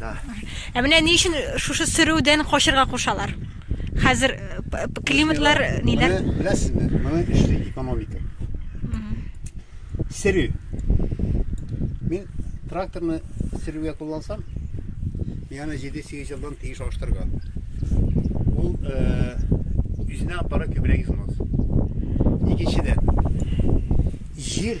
Да. Ә менә ни өчен шушы сөрүдән качырга кушалар? Хәзер э, климатлар ниләр? Беләсезме, моның эшле экономика. Сөрү. Мин тракторны сөрүгә куллансам, яна 7-8 елдан тиеш алыштырырга. Ул э, үзенә аппарат күбрәк измаз. Икенчедән, җир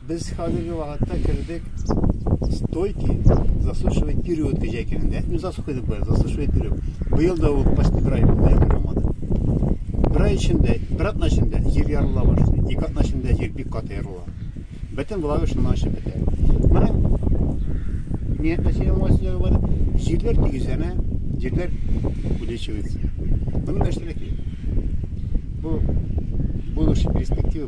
Без хәзерге вакытта кердек стойки засушивай период кәҗә икәнендә. Ну, засухайдык бая, засушивай период. Быел да ул почти бер ай булды, ягъмур яумады. Бер ай эчендә, бер атна эчендә җир ярыла башлый. Ике атна эчендә җир бик каты ярыла. Бөтен влага шуннан чыгып бетә. Моның ниятне сөйләм василәге бар. Җирләр тигезләнә, җирләр увеличивается. Моның нәрсәләр кирәк? Бу будущий перспектива